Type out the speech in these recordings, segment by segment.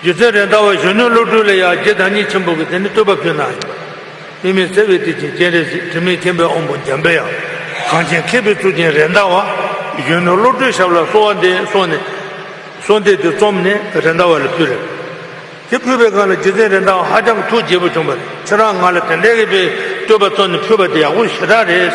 རྒྱུ་མཚན་རེད་མདའ་བ་གཞོན་ནུའི་བློ་གྲོས་ལ་ཡང་རྗེ་བདག་ཉིད་ཆེན་པོ་གིས་དེ་ནི་བསྟོད་པ་ཕུལ་གནང་ཡོད། དབུས་མེད་བརྩེ་བའི་གཏེར་ཆེན་སྤྱན་རས་གཟིགས་དྲི་མེད་མཁྱེན་པའི་དབང་པོ་འཇམ་དཔལ་ཡང་གངས་ཅན་མཁས་པའི་གཙུག་རྒྱན་རེད་མདའ་བ་གཞོན་ནུའི་བློ་གྲོས་ཞབས་ལ་གསོལ་བ་འདེབས་སོང་ནས་གསོལ་འདེབས་དེ་རྩོམ་ནས་རེད་མདའ་བ་ལ་ཕུལ། དེ་ཕུལ་བའི་སྒང་ལ་རྗེ་བཙན་རེད་མདའ་བ་ཧ་ཅང་ཐུགས་དགྱེས་པོ་བྱུང་བ་རེད་ཁྱེད་རང་ང་ལ་དེ་འདྲའི་ཡི་པའི་བསྟོད་པ་བཏོན་ནས་ཕུལ་བ་དེ་ཡག་པོ་ཞེ་དྲག་རེད།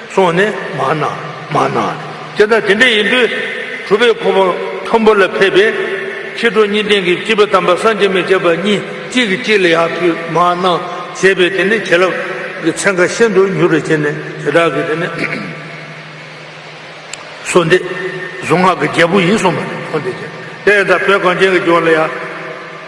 སོང་ནས་མ་ན་མ་ན། དེ་ལྟར་དེ་འདྲ་ཡིན་དུས་གྲུབ་པའི་འཁོར་བ་མཐོན་པོ་ལ་ཕེབས་པས། ཕྱི་དྲོ་གཉིས་ལྡན་གྱི་བཅུ་པའི་དམ་པ་སངས་རྒྱས་མི་བྱེད་པ་གཉིས་གཅིག་གིས་གཅིག་ལ་ཡར་ཕུད་མ་ན་བྱས་པས་དེ་ནི་བྱིན་རླབས་ཀྱི་ཚན་ཁ་ཤིན་ཏུ་མྱུར་བར་བྱས་ནས་དེ་དག་གིས་དེ་ནི། སོ་འདི་གཟུངས་སྔགས་ཀྱི་རྒྱལ་པོ་ཡིན་གསུངས་པ་ལ་འཁོར་འདས་ཀྱི་ལྷའི་དང་བོས་གངས་ཅན་གྱི་ལྗོངས་ལ་ཡར།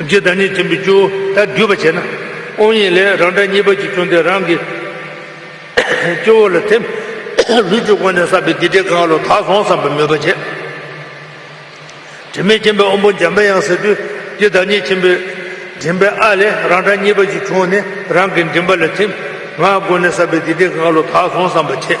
རྒྱུ་བདག་ཉིད་ཆེན་པོའི་སྐྱོ་བོ་དག་སྡུད་པར་བྱེད་ན། དབང་ཡིན་ལས་རང་སྒྲ་གཉིས་པ་གཅིག་བྱུང་སྟེ་རང་གི་སྐྱོ་བོ་ལ་ཐིམ། ལུས་ཀྱི་སྒོ་ནས་བསགས་པའི་སྡིག་སྒྲིབ་གང་ལ་དག་སོང་བསམ་པའི་མོས་པ་བྱེད། དྲི་མེད་མཁྱེན་པའི་དབང་པོ་འཇམ་དཔལ་ཡང་ཟེར་དུས་ཀྱི་བདག་ཉིད་ཆེན་པོའི་མགྲིན་པའི་ཨ་ལས་རང་སྒྲ་གཉིས་པ་གཅིག་བྱུང་ནས་རང་གི་མགྲིན་པ་ལ་ཐིམ། ངག་གི་སྒོ་ནས་བསགས་པའི་སྡིག་སྒྲིབ་གང་ལ་དག་སོང་བསམ་པ་བྱེད།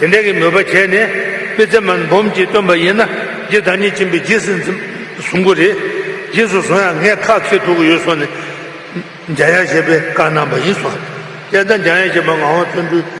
དེ་འདྲ་གི་མོས་པ་བྱས་ནས་དཔེ་ཚེ་མར་འབུམ་གྱིས་སྟོན་པ་ཡིན་ན་རྗེ་བདག་ཉིད་བྱིན་པའི་རྗེས་སུ་བཟུང་གི་རེད། རྗེས་སུ་བཟུང་ཡང་ངས་ཁག་ཚིག་དྲུག་ཡོད་སོང་ནས་འཇའ་ཡང་བཞད་པའི་བཀའ་གནང་བ་ཡིན་སོང། དཔྱད་ལྟ་འཇའ་ཡང་བཞད་པ་ངག་དབང་བརྩོན་འགྲུས།